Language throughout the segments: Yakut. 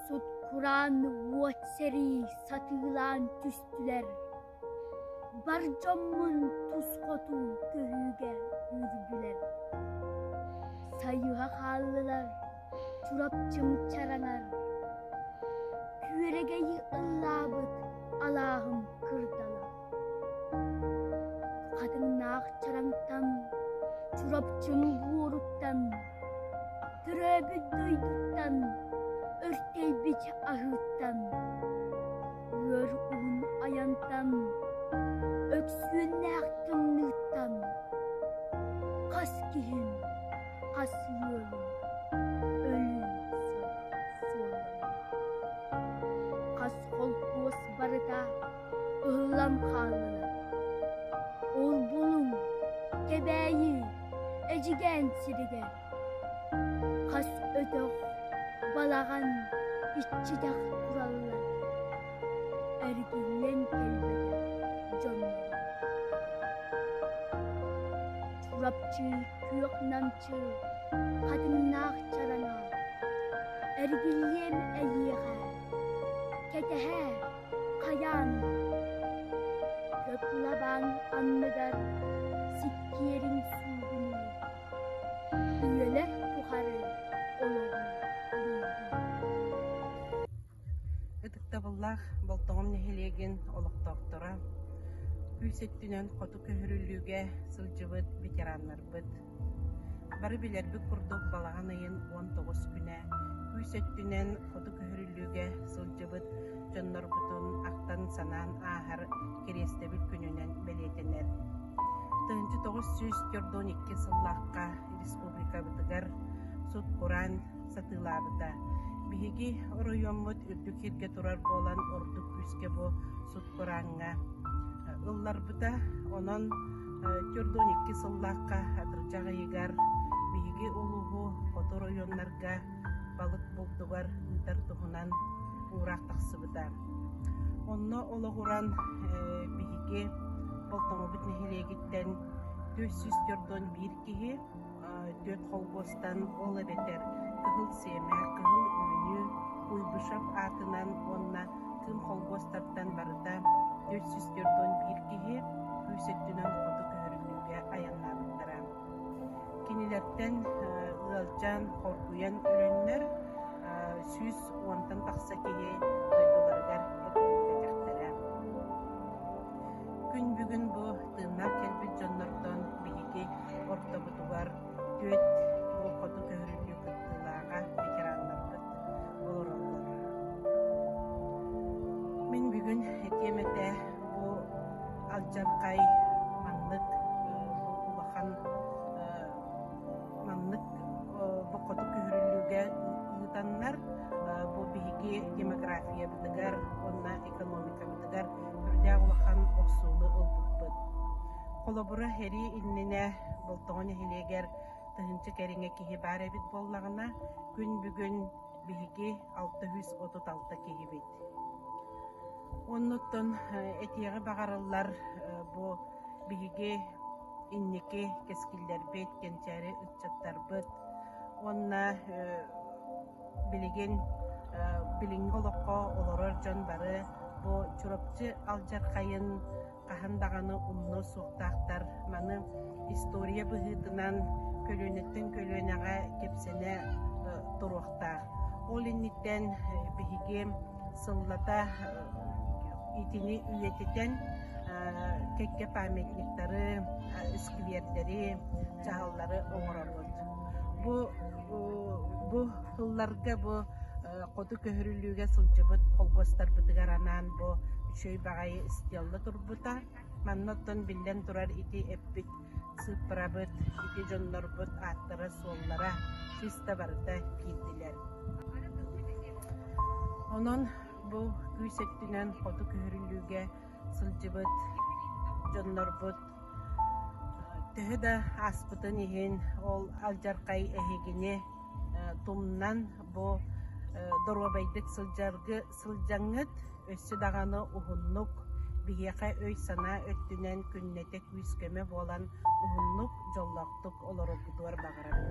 Сут-кураан уот сэрии сатыылаан түстүлэр. Бар дьоммун тус хоту көрүүгэ үрдүлэр. Сайыһа хааллылар, Чурапчым чаранар. Күөрэгэйи ыллаабыт алааһым кырдалар. Хатыҥнаах чараҥтан, Чурапчы нугууруттан, Төрөөбүт дойдуттан, Өртөйбүт аһыыттан, Ыар уһун айантан, Өксүөннээх тымныыттан, Хас киһим, хас ыалым, Өлүн сыалым. Хас холкуос барыта Ыллам хааллылар. Ол булуҥ, Кэбээйи, Эдьигээн сиригэр. Хас өтөх, балаҕан иччитэх ылаллар. Эргиллэн кэлбэтэх дьоннор. Чурапчы күөх намчы хатыҥнаах чараҥа. Эргиллиэм эйиэхэ, кэтэһээ хайаан көкүлэбаан анныгар сиккиэриҥ суугунуу күөлэр тухары ытыктабыллаах Болтоҕом нэһилиэгин олохтоохторо күүс өттүнэн хоту көһөрүллүүгэ сылдьыбыт ветераннарбыт Бары билэрбит курдук балаҕан ыйын уон тоҕус күнэ күүс өттүнэн хоту көһөрүллүүгэ сылдьыбыт дьоннорбутун ахтан-санаан ааһар кэриэстэбил күнүнэн бэлиэтэнэр. Тыһыынча тоҕус сүүс төрт уон икки сыллаахха республикабытыгар сут-кураан сатыылаабыта. Биһиги оройуоммут үрдүк сиргэ турар буолан ордук күүскэ бу сут бырааҥҥа ылларбыта. Онон төрт уон икки сыллаахха атырдьах ыйыгар биһиги улууһу хотор ойууннарга балык булдугар ыытар туһунан уураах тахсыбыта. Онно олоҕуран биһиги Болтоҥобут нэһилиэгиттэн 404 киһи түөрт холкуостан, ол эбэтэр Кыһыл Сиэмэ, Кыһыл Үүнүү, Куйбышев аатынан уонна Кыым холкуостартан барыта төрт сүүс төрт уон биир киһи күүс өттүнэн хоту көһөрүллүүгэ айаннаабыттара. Кинилэртэн ыалдьан, хоргуйан өлөннөр сүүс уонтан тахса киһи дойдуларыгар эргиллибэтэхтэрэ. Күн бүгүн бу тыыннаах кэлбит дьоннортон биһиги ортобутугар түөрт уол хоту көһөрүлүү кыттыылааҕа ветераннарбыт олороллор. Мин бүгүн этиэм этэ бу алдьархай маннык улахан маннык бу хоту көһөрүлүүгэ ыытаннар бу биһиги демографиябытыгар уонна экономикабытыгар үрдээх улахан охсууну ылбыппыт. Холобура, эрии иннинэ Болтоҕо нэһилиэгэр тыһыынча кэриҥэ киһи баар эбит буоллаҕына, күн бүгүн биһиги алта сүүс отут алта киһибит. Оннуттан этиэҕи баҕарыллар бу биһиги инники кэскиллэрбит, кэнчээри ыччаттарбыт уонна билигин билиҥҥи олоххо олорор дьон бары бу Чурапчы алдьархайын хаһан даҕаны умнуо суохтаахтар. Маны история быһыытынан көлүөнэттэн көлүөнэҕэ кэпсэнэ туруохтаах. Ол инниттэн биһиги сыллата итини үйэтитэн кэккэ памятниктары, сквердэри, чаһыллары оҥоробут. Бу бу сылларга бу хоту көһөрүлүүгэ сылдьыбыт холкуостарбытыгар анаан бу үчүгэй баҕайы стелла турбута. Манна оттон биллэн турар ити эппит сыыппарабыт, ити дьоннорбут ааттара-суоллара чыста барыта киирдилэр. Онон бу күүс өттүнэн хоту көһөрүлүүгэ сылдьыбыт дьоннорбут төһө да ааспытын иһин ол алдьархай эһигини тумнан бу доруобайдык сылдьаргы сылдьаҥҥыт, өссө даҕаны уһуннук, биһиэхэ өй-санаа өттүнэн күннэтэ күүс-көмө буолан уһуннук, дьоллоохтук олороргутугар баҕарабын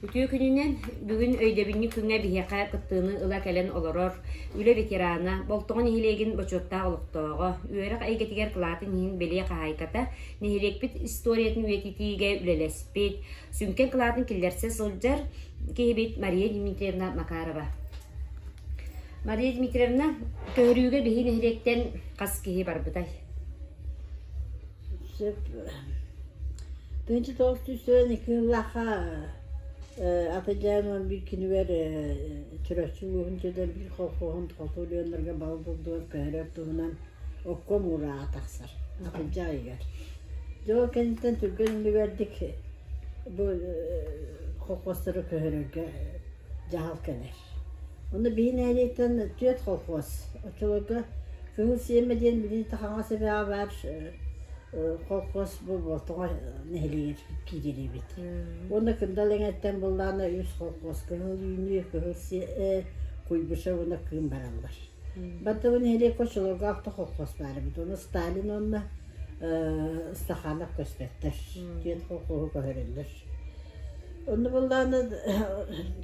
Үтүө күнүнэн бүгүн өйдөбүнньүк күҥҥэ биһиэхэ кыттыыны ыла кэлэн олорор үлэ ветерана, Болтоҕо нэһилиэгин бочуоттаах олохтооҕо, үөрэх эйгэтигэр кылаатын иһин бэлиэ хаһаайката, нэһилиэкпит историятын үйэтитиигэ үлэлэспит, сүҥкэн кылаатын киллэрсэ сылдьар киһибит Мария Дмитриевна Макарова. Мария Дмитриевна, көһөрүүгэ биһи нэһилиэктэн хас киһи барбытай? Тынчы тоостуусен екі жыллаха атажааман бир кинибер түрөччү лугун жеден бир холхоһун толтулуоннарга бал булдугар көһөрөр туһунан оккон уурааҕа тахсар Акылдьаайыгар. Дьэ ол кэнниттэн түргэн иннибэрдик бу колхозтары көһөрөргө дьаһал кэлэр. Ону биһин ээрийтэн түөрт колхоз оччолорго көҥүл сиэмэ диэн билиниттэ хаҥас эбэҕэ баар колхоз бу Болтоҕо нэһилиэгэр киирэлиибит. Уонна Кындал эҥэттэн былаана үс колхоз Кыһыл үүнүү, Кыһыл сиэ, Куйбышев уонна Кыым бараллар. Баттабын иһэлиэк оччолоргоох да холхуос баар эбит. Ону Сталин уонна э, Стаханов көстөттөр. Диэн холхуоһу көһөрөллөр. Онно буллаана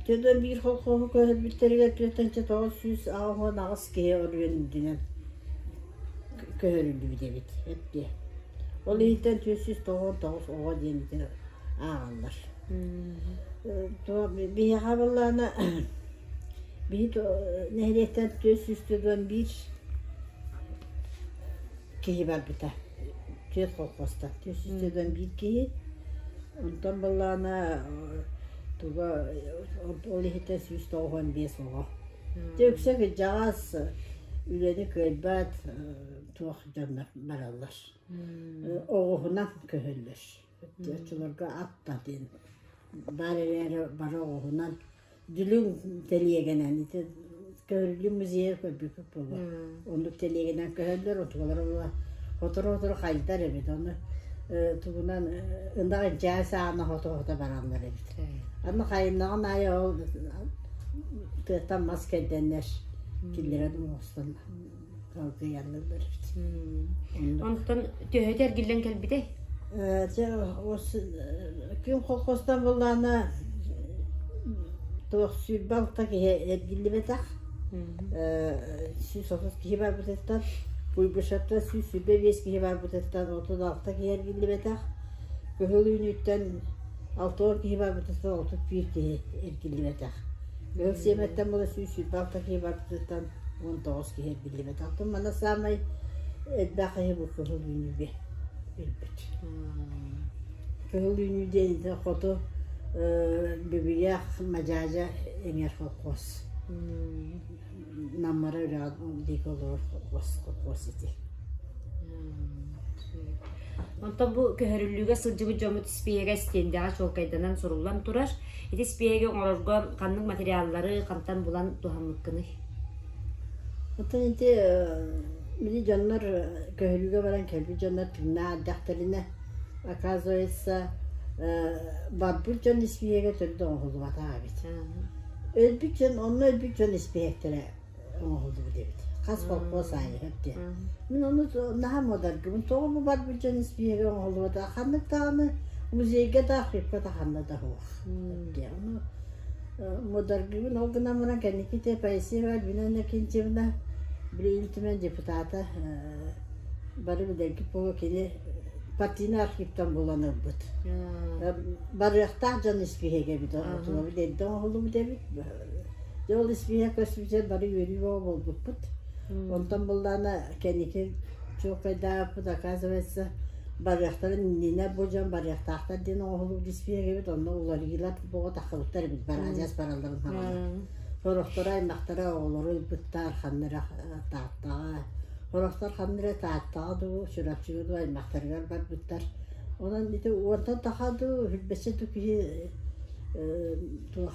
түөртэн биир холхуоһу көһөрбүттэригэр түөртэнчэ тоҕус сүүс он аҕыс киһи оройун үрдүнэн көһөрүллүбүт эбит эптиэ. Ол иһиттэн түөрт сүүс тоҕон тоҕус оҕо диэн ити ааҕаллар. Э, Туо биһиэхэ буллаана Били нэһилиэктэн түөрт сүүс төрт уон биир киһи барбыта, түөрт колхозтан түөрт сүүс төрт уон биир киһи. Онтон былаана туга ол иһиттэн сүүс тоҕус уон биэс оҕо. Дьэ үксэ кырдьаҕас үлэни кыайбат туох дьоннор бараллар. Оҕуһунан көһөллөр. Оччолорго аттан диэн баар эрээри бары оҕуһунан Дүлүҥ тэлиэгэнэн ити Төгүрүлүү музейга көрбүккүт буолуо. Оннук тэлиэгэнэн көһөллөр, отуулар була сотору-сотору хайытар эбит. Ону э, тугунан э, ынах дьээс аана хото-хото бараллар эбит. Аны хайыннаҕын аайы ол тыаттан мас кэрдэннэр киллэрэн оҥостон Онтон төһөтө эргиллэн кэлбитэй? Дьэ күн холкустан буллаана туох сүүр балта киһи эргиллибэтэх. Сүүс отут киһи барбытыттан Куйбышевтан сүүс сүүрбэ биэс киһи барбытыттан отут алта киһи эргиллибэтэх. Кыһыл үүнүүттэн алта он киһи барбытыттан отут биир киһи эргиллибэтэх. Кыһыл сиэмэттэн була сүүс сүүрбэ алта киһи барбытыттан Уон тоҕус киһи эрбиллибэт. Оттон манна саамай элбэх киһи бу кыһыл үүнүүгэ билбит. Кыһыл үүнүү диэн ити хоту Бүбүйээх Мадьаадьа эҥэр холкуос. Наммара үрэҕэ диэки олорор холкуос, холкуос ити. Онтон бу көһөрүллүүгэ сылдьыбыт дьоммут испиэһэгэ стендэҕэ чуолкайданан суруллан турар. Ити спиэги оҥорорго ханнык материаллары хантан булан туһаммыккыный? Оттон ити били дьоннор көһөрүүгэ баран кэлбит дьоннор түҥнээх оказывается, барбыт дьон испииһэгэ төрдө оҥоһуллубатах эбит. Өлбүт дьон, онно өлбүт дьон испииһэктэрэ оҥоһуллубут эбит хас холкуос аайы диэн мин ону наһаа муодаргыбын тоҕо бу барбыт дьон испииһэги оҥоһуллубута ханнык даҕаны музейга да архивка да ханна да суох диэн ону мударгыбын ол гынан баран кэнникитэ поэзия Альбина Кенчевна Билигин түмэн депутата бары билэрги буо кини партийный архивтан булан ылбыт барыахтаах дьон испиһэгэбит отулабыт эрдэ оҥоһуллубут эбит Дьэ ол испииһэк көспүтүгэр бары үөрүү бөҕө буолбуппут. Онтон буллаана кэнники чуолкайдаабыппыт оказывается барыахтарын иннинэ бу дьон барыахтаахтар диэн оҥоһуллубут испииһэгибит онно уларыйыылар бөҕө тахсыбыттар эбит бараадьас баралларын саҕана. Сорохторо аймахтара оҕолору ыйбыттар ханныра Тааттаҕа Сорохтор ханныра Тааттаҕа дуу Чурапчыга дуу аймахтарыгар барбыттар. Онон ити уонтан таха дуу, үрбэччэ дуу киһи туох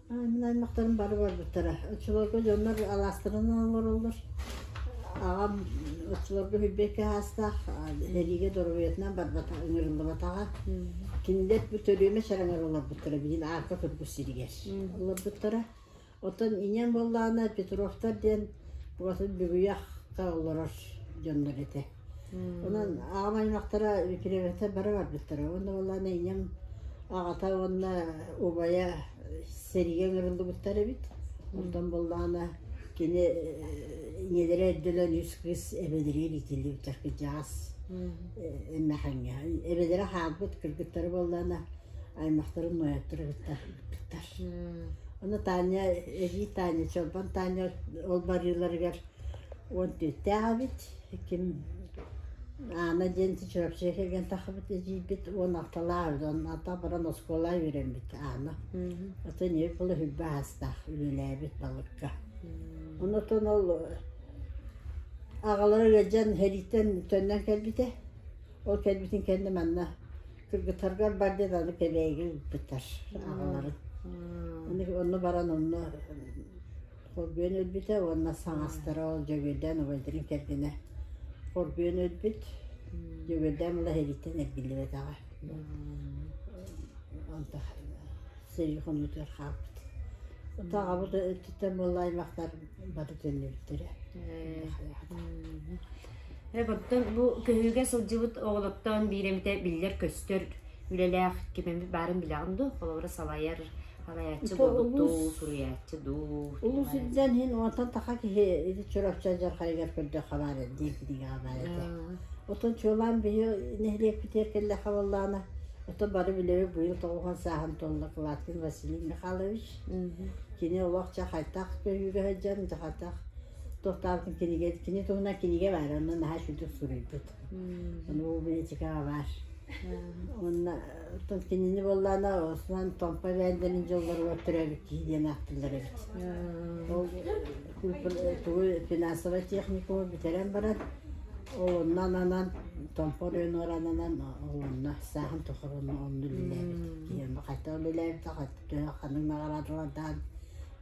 Мин аймактарым бары барбыттара. Оччолорго дьоннор алаастарынан олороллор. Аҕам оччолорго Хүлбэккэ саастаах сэриигэ доруобуйатынан барбата ыҥырыллыбатаҕа. Кинилэр бу төрүөмэ сараҥар олорбуттара билигин Арка Кыргыс сиригэр олорбуттара. Оттон ийэм буоллаҕына Петровтар диэн ураты бүгүйэх олорор дьоннор этэ. Онон аҕам аймахтара үтүрүбэхтэ бара барбыттара уонна буоллаҕына ийэм аҕата уонна убайа сэрийэ ыҥырыллыбыттар эбит. Оттон буоллаҕына кини ийэлэрэ өйдөнөн үс кыыс эбэлэриин итиллибиттэр кырдьаҕас эмэхэҥҥэ. Эбэлэрэ хаалбыт кыргыттары буоллаҕына аймахтарын нуойаттара кытта ыппыттар. Аны Таня, эдьиий Таня, Чолбон Таня ол барыыларыгар уон түөртээх эбит. Ким Анна диэн Чурапчыга кэлэн таххабыт эдьиийбит уон алталаах үһү. Онно баран оскуола үөрэммит Анна. Атын ийэ кыла үрбэ аастаах үлэлээбит балыкка. Онтон ол аҕалара ыалдьан сэрииттэн төннөн кэлбитэ. Ол кэлбитин кэннэ манна кыргыттаргар бар диэн аны кэлээги ыыппыттар аҕаларын. Ону баран онно Хорбуйан өлбүтэ уонна саҥастара ол Дьөгүөрдээн убайдарын кэргэнэ хорбуйан өлбүт. Дьөгүөрдээн мала сэрииттэн эргиллибэтэҕэ. Онто сэрии хонуутугар хаалбыт. Ытаҕабыт өттүттэн буолла аймахтар бары төннүбүттэрэ. Эк оттон бу көһүүгэ сылдьыбыт оҕолортон биир эмитэ биллэр-көстөр үлэлээх ким эмит баарын билэҕин дуу? Холобура салайар салайааччы буолбуттуу суруйааччы дуу улус илдьэн иһин онтон таха киһи ити чурапчы дьархайыгар көрдөх хабаар эрдии киһигэ ханаайа этэ отон чуолаан быйыл нэһилиэк битиэр кэллэ хабыллаана ото бары билеби быйыл тоҕухан сааһын толла кылаткин василий михайлович кини олохча хайтах көйүүгэ сылдьан хайтах тохтаабытын кинигэ кини туһунан кинигэ баар онно наһаа сүдүк суруйбут Муу бэчикээ баар уонна кинини буоллаана осыдан Томпо эбээндэрин дьоллоругар төрөөбүт киһи диэн ааттыыллар эбит. Ол тугу финансовай техникуму бүтэрэн баран ол оннон анан Томпо Ренор ананан ол онно сааһын тухары онно үлэлээбит. Киһи хайта үлэлээбит, хайта ханнык наҕараадалардаан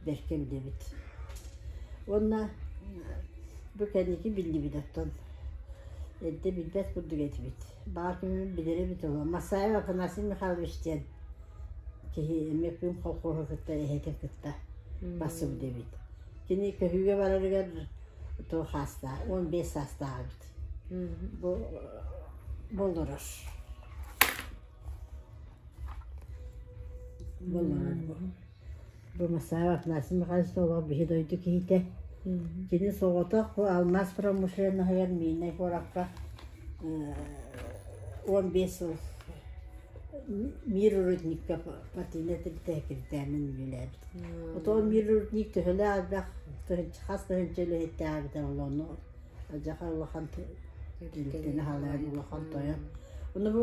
бэркэ билэбит. Уонна бу кэнники биллибит оттон Эрдэ билбэт курдук этибит. Баар күнүн билэр эбит ол Масаев Афанасий Михайлович диэн киһи эмиэ күн холкуоһу кытта эһэтин кытта барсыбыт эбит. Кини көһүүгэ барарыгар тоҕус саастаах, уон биэс саастаах эбит. Бу болорор. Болорор бу. Бумасаева Афанасий Михайлович Соловов биһи дойду киһитэ. Кини соҕотох алмаз промышленноһыгар Миирнэй куоракка уон биэс сыл мир рудникка партийнай тэрилтэһикирдээмин үлэлээбит. Отон мир рудник төһөлөөх элбэх хас тыһыынча үлэһиттээх эбитэ ол ону адьаха улахан тэрилтэни аһалан улахан тойон. Ону бу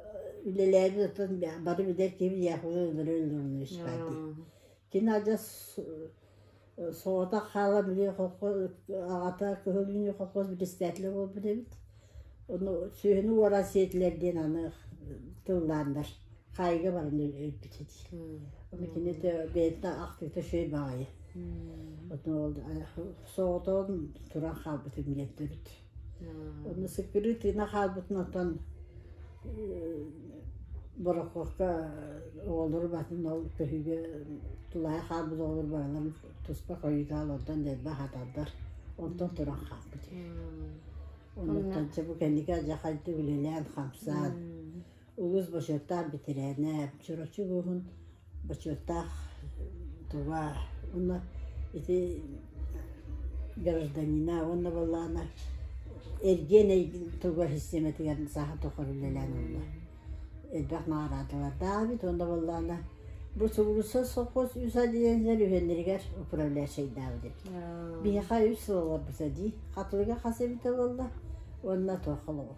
үлэлээги ытын бары билэр ким яхуга өлөрө өлөрнө испаати кин адьас соҕото хаала били хокко аҕата кыһыллыны хоккос председателе буолбут эбит ону сүөһүнү уора сиэтилэр диэн аны тыллаандар хаайга баран өлбүтэ дии ону кини бэйэтэ актыыта шөй баҕайы ону ол соҕотоон туран хаалбыт үмүлөттөрүт Онно секретина хаалбытын оттон Борокуопка оҕолору баһытын ол көһүүгэ тулаайах хаалбыт оҕолор бааларын туспа хойутаалардан дэлби аһатардар онтон туран хаалбыт үһү. Оннуктан чэ бу кэнники адьахайды үлэлээн хамсаан Улуус бочуоттаах бэтэрээнэ Чурапчы улууһун бочуоттаах тува уонна ити гражданина уонна буоллаҕына эргиэн туга систематыгар сааһа тухары үлэлээн олло элбэх наҕараадалардаах эбит уонна буоллаҕына бу субулуса совхоз үс отделениелар үһүөннэригэр управляющайдаабыт эбит биһиэхэ үс сыл олорбута дии хатылыга хас эбитэ буолла уонна туох холобур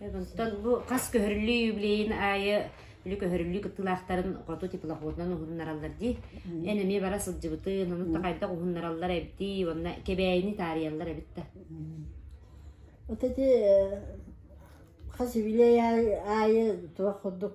Онтон бу хас көһөрүллүү юбилейын аайы үлү көһөрүллүү кыттылаахтарын хоту теплоходунан уһуннараллар дии. Эн эмиэ бара сылдьыбытын, ону да хайдах уһуннараллар эбитий, уонна кэбээйини таарыйаллар эбит да. Вот эти хас юбилей аайы туох курдук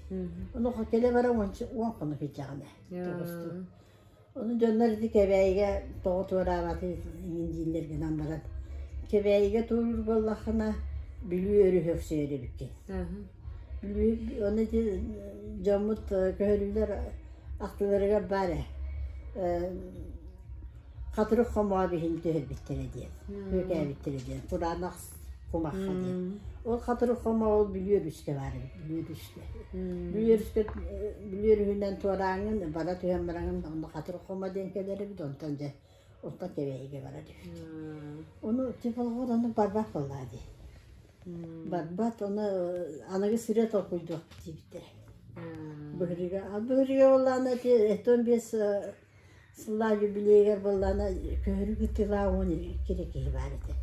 Ону хотеле баран уонча уон хонук иһдьэҕинэ тобустум. Ону дьоннор ити Кэбээйигэ тоҕо туораабатын иҥин дииллэр гынан баран Кэбээйигэ туурур буоллаххына Бүлүү өрүһү өхсөйөр эбиккин. Бүлүү ону ити дьоммут көһөрүүлэр ахтыларыгар баар ээ Хатырык хомоон иһин түһэрбиттэрэ диэн, күөкээбиттэрэ диэн, кураанах кумахха диэн. Ол хатырык хомоол бүлүөр үстэ баар эбит, бүлүөр үстэ. Бүлүөр үстэ, бүлүөр үһүнэн туорааҥҥын, бара түһэн бараҥын, онно хатырык хомо диэн кэлэр эбит, онтон дьэ, онтон Кэбээйигэ барар үһүт. Ону типологор ону барбат буоллаа дии. Барбат, ону аныгы сирэ толкуйдуох диэбиттэр. Быһырыга, а быһырыга боллаана ити этон биэс Сыллаа юбилейыгар буоллаана көһөрүг ыттыылаа уон икки да киһи баар этэ.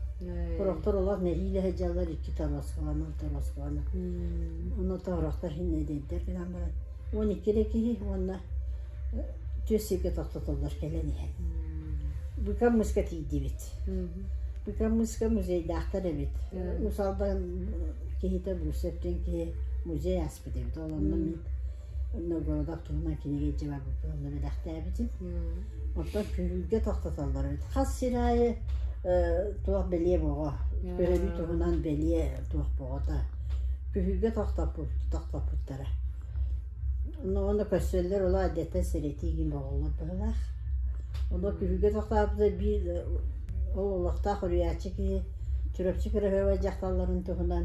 Тороктор олох нэһиилэ сылдьаллар икки тоноскаланан тоноскаланан. Ону тороктор иһин эдэрдэр гынан баран уон икки да киһи уонна түөрт сиргэ тохтотоллор кэлэн иһэн. Быыкам мыска тиийдибит. Быыкам мыска музейдаахтар эбит. Усалдан киһитэ Бусев диэн киһи музей ааспыт эбит. Ол онно мин Онно Бородог туһунан кинигэ илдьэ барбыппын онно бэлэхтээбитим. Оттон күрүүргэ тохтотоллор эбит. Хас сир аайы туох бэлиэ боҕо, өрөбүл туһунан бэлиэ туох боҕото. Күһүүргэ тохтоппут тохтоппуттара. Онно көрсөллөр олох эрдэттэн сэрэтии иһин боҕоллор быһыылаах. Онно күһүүргэ тохтооппута биир ол олохтоох уруйааччы киһи Чурапчы кыраһыабай дьахталларын туһунан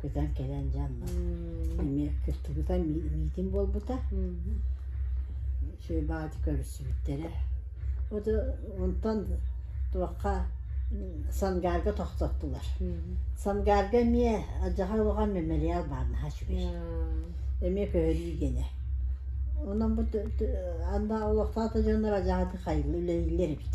Көтөн кэлэн дьонно эмиэ кыттыбыта, миитин буолбута. Үчүгэй баҕайытык көрүстүбүттэрэ. Оду онтон туохха Сангарга тохтоттулар. Сангарга эмиэ Адьаҕа Улаҕа мемориал баар наһаа үчүгэй. Эмиэ көһөрүүгэнэ. Онон бу анда олохтоохтор дьоннор адьаҕаты хайылла үлэлииллэр эбит.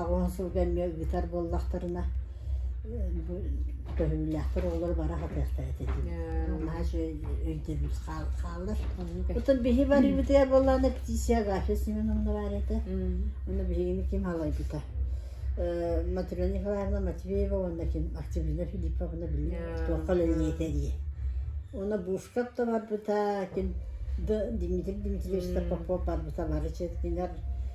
Аҕылаан сылга эмиэ ыытар буоллахтарына, көһүннээхтэр оҕолоро бара сатыахтара этэ дии. Наһаа үчүгэй өйдөбүл хааллар. Оттон биһи барыыбытыгар буоллаҕына птичья Гаша Семеновна баар этэ. Ону биһигини ким халайбыта? Матрена Николаевна Матвеева уонна ким Активина Филипповна билиҥ туохха үлэлиэтэ дии. Уонна Бушков да барбыта, ким Дмитрий Дмитриевич да Попов барбыта бары четкилэр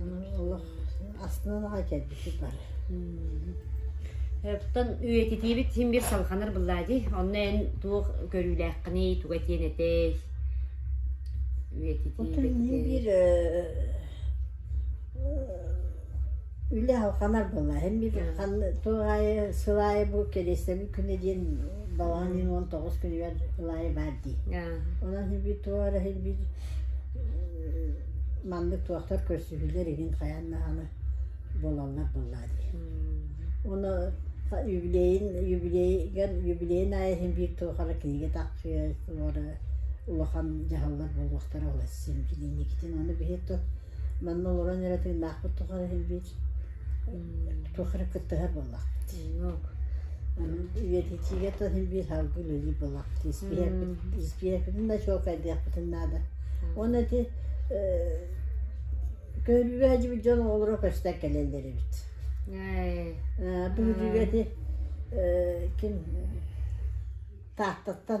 Онон олох астынан аҕай кэлбитим бар. Оттон үйэтитиибит син биир салҕанар быллаа дии. Онно эн туох көрүүлээххиний, туга этиэн этэй? Отон ийэ биир Үлэ алхамар буолла. Эн мин туох аайы сыл аайы бу кириэстэбил күнэ диэн балаҕан ыйын уон тоҕус күнүгэр ыл аайы баар дии. Онон хилбит туора хилбит маннык туохтар көрсүһүүлэр игин хайаан даҕаны буолаллар буоллаа дии. Уну юбилейын юбилейган юбилейын аайы хин биир туохара кинигэ тахсыа туора улахан дьаһаллар буолуохтара ол син кининикитин ону биһи ту Манна олорон эрэ тыыннаахпыт тухары иһиллиир туох эрэ кыттыһар буоллахпыт үйэтитиигэ тыл иһиллиир салгы үлэлиир буоллахпыт испиэһэкпитин да чуолкайдыахпытын наада уонна ити көрүүлээжибит дьон оҕолоро көстөн кэлэллэр эбит бүгүрүгэ ити ким тааттаттан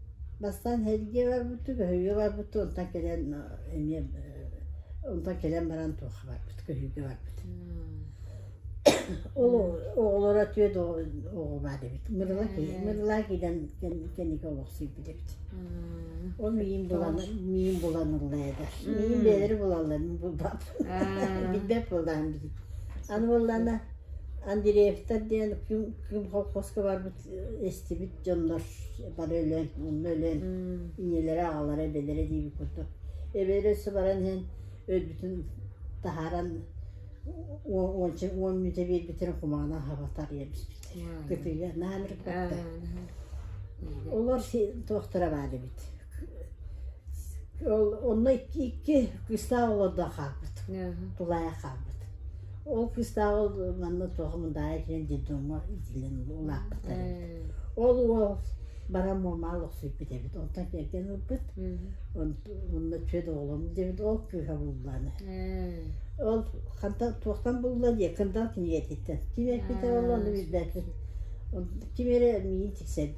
Бастаан сэргии барбыттыы, көһүйгэ барбыттыы, онтон кэлэн эмиэ онтон кэлэн баран туохха барбыт, көһүйгэ барбыт. Ол оҕолоро түөрт оҕо баар эбит. Мырыла мырыла киирэн кэнники олохсуйбут эбит. Ол миин булан миин буланылла эдэр. Миин бэлэри булаллар булбап. Билбэт булдаан бит. Аны боллана Андреевтар диэн ким ким колхозка барбыт эстибит дьоннор бары өлөн онно өлөн ийэлэрэ аҕалара эбэлэрэ диэбит курдук эбэлэрэ сыбаран иһэн өлбүтүн таһааран уон мүнүүтэ биэрбитин кумаана аһаба тарыйа биспит кытыыга наанырыппатта олор туохтара баар эбит Ол онно икки кыыстаах олордо хаалбыт, тулаайах хаалбыт. Ол кыыстаах ол манна туох мындаҕа итинэн детдомҥо итилэн улааппыттар эбит. Ол уол баран муормаан олохсуйбут эбит. Онтон кэргэн ылбыт. Онно түөрт оҕолом диэбит, ол кыыһа булланы. Ол хантан туохтан булла диye кырдал кинигэтиттэн. Ким эппитэ ол ону билбэтин. Ким эрэ миигин тиксэрбит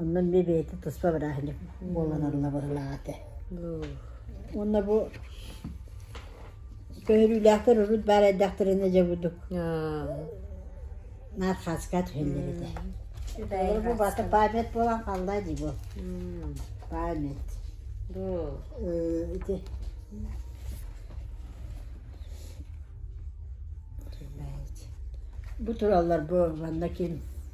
Онон би бэйэтэ туспа бырааһынньык буолланарыла быһылаах этэ. Уонна бу көһөрүүлээхтэр урут баар эрдэхтэринэ дьэ бурдук наат хааска түһэллэр этэ. Олор бу бата память буолан халла дии бу. Память. Ити Бу тураллар бу манна ким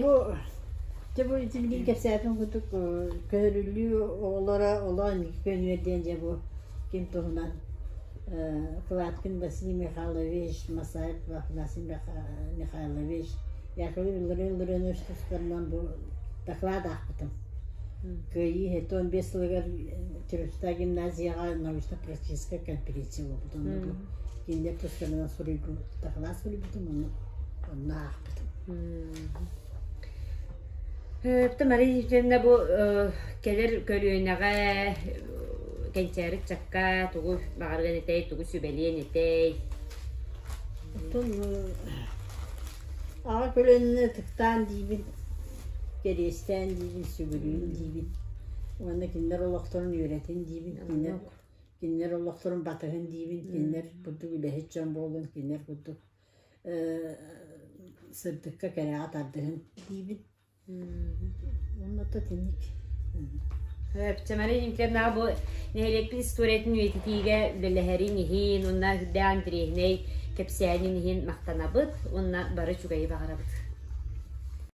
Бу дьэ бу дьибигин кэпсээтин курдук көһөрүлүү оҕолоро олоон көнүөр диэн дьэ бу ким туһунан Кладкин Василий Михайлович, Масаев Афанасий Михайлович, Яковлев Иллария Илларионович тустарынан бу доклад аахпытым. Кыайыы хэти он бес сылыгар Теревская гимназияҕа научно-практическай конференция буолбут онно бу Кинилэр тустарынан суруйбут, таһылаан суруйбутум, ону онно аахпытым. Өптө Мария Ефимовна бу кэлэр көлүөнэҕэ кэнчээри чакка тугу баҕарган этэй, тугу сүбэлиэн этэй? Оттон аҕа көлөнүнө ытыктаан диибин, кэриэстээн диибин, сүгүрүүн диибин. Уонна кинилэр олохторун үөрэтин диибин. Кинилэр Кинилэр олохторун батыһын диибин, кинилэр курдук үлэһит дьон буоллун, кинилэр курдук э, сырдыкка, кэрэҕэ тардыһын диибин. Онно тэтиник. Чамарин Николаевна бу нэһилиэкпин историятын үйэтитиигэ үлэлэһэрин иһин, унна үрдээх интириэһинэй кэпсээнин иһин махтанабыт, унна бары үчүгэйи баҕарабыт.